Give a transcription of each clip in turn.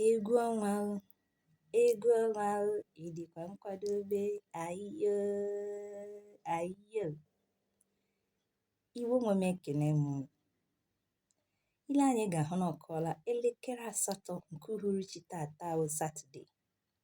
egwu ọnwa o egwu ọnwa o ị dịkwa nkwadobe ayiyo ayiyo Igbo nwe m ekene m unu. i lee anya ị ga-ahụ na ọ kụọla elekere asatọ nke uhuruchi tata bụ satọde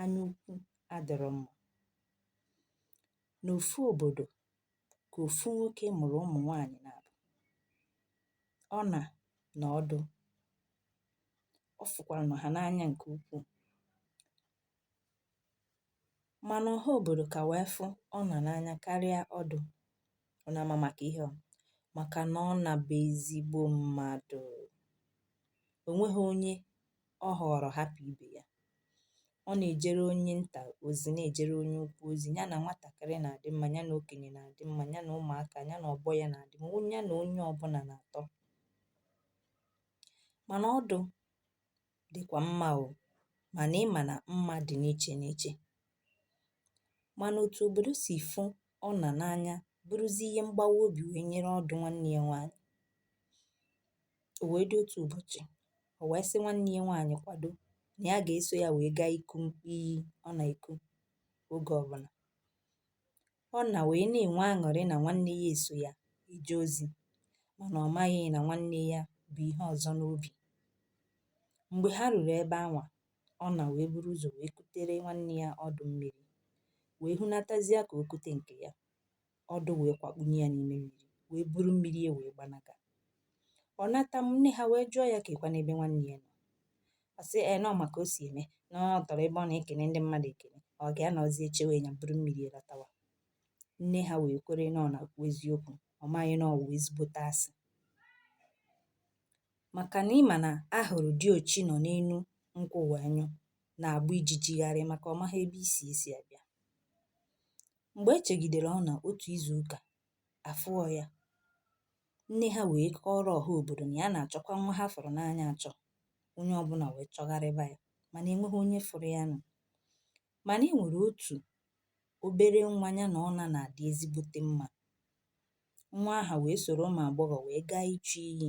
anya ukwu adịrọ mma. N'ofu obodo ka ofu nwoke mụrụ ụmụ nwaanyị naabọ, Ọna na Ọdụ, ọ fụkwaranụ ha n'anya nke ukwuu, mana ọha obodo ka wee fụ Ọna n'anya karịa Ọdụ, ọ na-ama maka ihe ọ, maka na Ọna bụ ezigbo mmadụ, o nweghị onye ọ họọrọ hapụ ibe ya. Ọ na-ejere onye nta ozi, na-ejere onye ukwu ozi, ya na nwatakịrị na-adị mma, ya na okenye na-adị mma, ya na ụmụaka, ya na ọgbọ ya na-adị mma, ya na onye ọbụla na-atọ. Mana Ọdụ dịkwa mma o, mana ị ma na mma dị n'iche n'iche. Mana otu obodo si fụ Ọna n'anya bụrụzi ihe mgbawa obi wee nyere Ọdụ nwanne ya nwaanyị. O wee dị otu ụbọchị, o wee sị nwanne ya nwaanyị kwado na ya ga-eso ya wee gaa iku iyi ọ na-eku oge ọbụla. Ọna wee na-enwe aṅụrị na nwanne ya eso ya eje ozi mana ọ maghị na nwanne ya bu ihe ọzọ n'obi. Mgbe ha ruru ebe anwa, Ọna wee buru ụzọ wee kutere nwanne ya Ọdụ mmiri wee hunatazie ka o kute nke ya. Ọdụ wee kwakpunye ya n'ime mmiri wee buru mmiri ya wee gbanaga ọ nata nne ha wee jụọ ya kekwanụ ebe nwanne ya nọ ọ sị ee na ọ ma ka o si eme na ọ tọrọ ebe ọ na-ekene ndị mmadụ ekene ọ ga-anọzi echewe ya buru mmiri ya latawa nne ha wee kwere na ọ na-ekwu eziokwu ọ maghị na ọ wụ ezigbote asị maka na ị ma na ahụrụ diochi nọ n'elu nkwụ wee nyụ na-agba ijiji gharịị maka ọ maghị ebe isi esi abịa. Mgbe e chegidere Ọna otu izu ụka, a fụọ ya. Nne ha wee kọọrọ ọha obodo na ya na-achọkwa nwa ha fụrụ n'anya achọ. Onye ọbụla wee chọgharịba ya mana enweghị onye fụrụ ya nụ. Mana e nwere otu obere nwa ya na Ọna na-adị ezigbote mma. Nwa aha wee soro ụmụ agbọghọ wee gaa ichu iyi.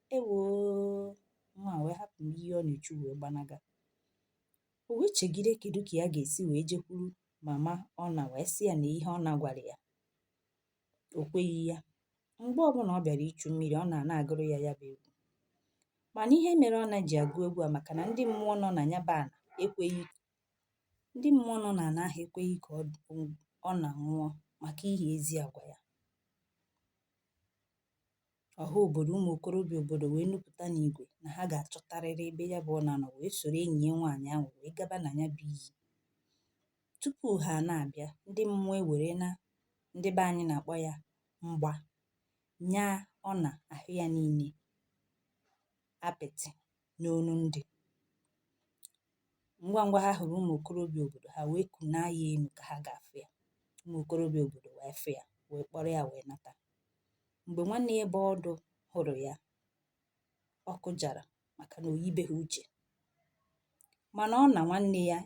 Ewoo! Nwa a wee hapụ mmiri ọ na-echu wee gbanaga. O wee chegide kedu ka ya ga-esi wee jekwuru mama Ọna wee sị ya na ihe Ọna gwara ya. O kweghị ya. Mgbe ọbụla ọ bịara ichu mmiri, Ọna ana-agụrụ ya ya bụ egwu. Mana ihe mere Ọna ji agụ egwu a maka na ndị mmụọ nọ na ya bụ ana ekweghị ndị mmụọ nọ na ana ahụ ekweghị ka Ọna nwụọ maka ihe ezi agwa ya. ọha obodo ụmụ okorobịa obodo wee nupụta n'igwe na ha ga-achọtarịrị ebe ya bụ Ọna nọ wee soro enyi ya nwaanyị ahụ wee gaba na ya bụ iyi tupu ha na-abịa ndị mmụọ ewere na ndị be anyị na-akpọ ya mgba nya Ọna ahụ ya niile apịtị n'onu ndị ngwa ngwa ha hụrụ ụmụ okorobịa obodo ha wee kunaa ya enu ka ha ga-afụ ya ụmụ okorobịa obodo wee fụ ya wee kpọrọ ya wee nata mgbe nwanne ya bụ Ọdụ hụrụ ya ọ kụjara maka na o yibeghị uche mana Ọna nwanne ya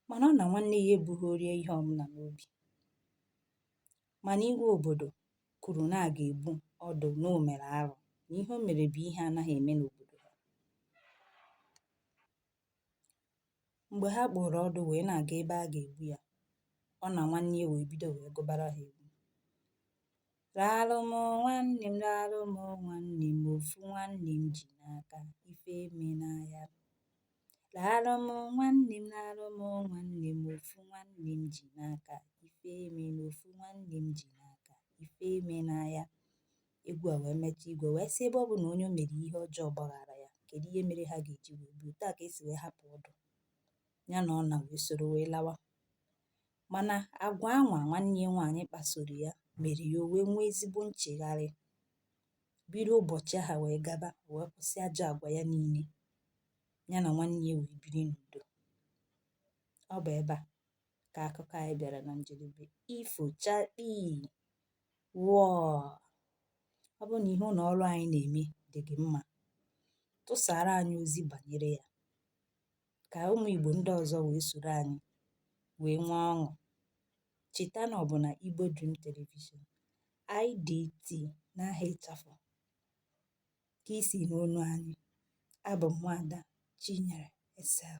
mana Ọna nwanne ya ebughịrị ya ihe ọbụla n'obi mana igwe obodo kwuru na a ga-egbu Ọdụ na o mere arụ na ihe o mere bụ ihe anaghị eme n'obodo ha mgbe ha kpụrụ Ọdụ wee na-aga ebe a ga-egbu ya Ọna nwanne ya wee bido wee gụbara ha egwu raalụ m nwanne m raalụ m nwanne m ofu nwanne m ji n'aka ife emena ya Raalụ m nwanne m raalụ m nwanne m ofu nwanne m ji n'aka ife emena ofu nwanne m ji n'aka ife emena ya egwu a wee metụ igwe wee sị ebe ọ bụ na onye o mere ihe ọjọọ gbaghara ya kedu ihe mere ha ga-eji wee gbuo otu a ka e si wee hapụ Ọdụ ya na Ọna wee soro wee lawa mana agwa anwa nwanne ya nwaanyị kpasoro ya mere ya o wee nwee ezigbo nchegharị bido ụbọchị ahụ wee gaba wee kwụsị ajọ agwa ya niile ya na nwanne ya wee biri n'udo ọ bụ ebe a ka akụkọ anyị bịara na njedebe ifochakpi wọọ ọ bụrụ na ihe ụlọ ọrụ anyị na-eme dị gị mma tụsara anyị ozi banyere ya ka ụmụ Igbo ndị ọzọ wee soro anyị wee nwee ọṅụ cheta na ọ bụ na Igbo Dream Television IDT n'aha ịchafụ ka i si anụ onu anyị abụ m Nwaada Chinyere Esel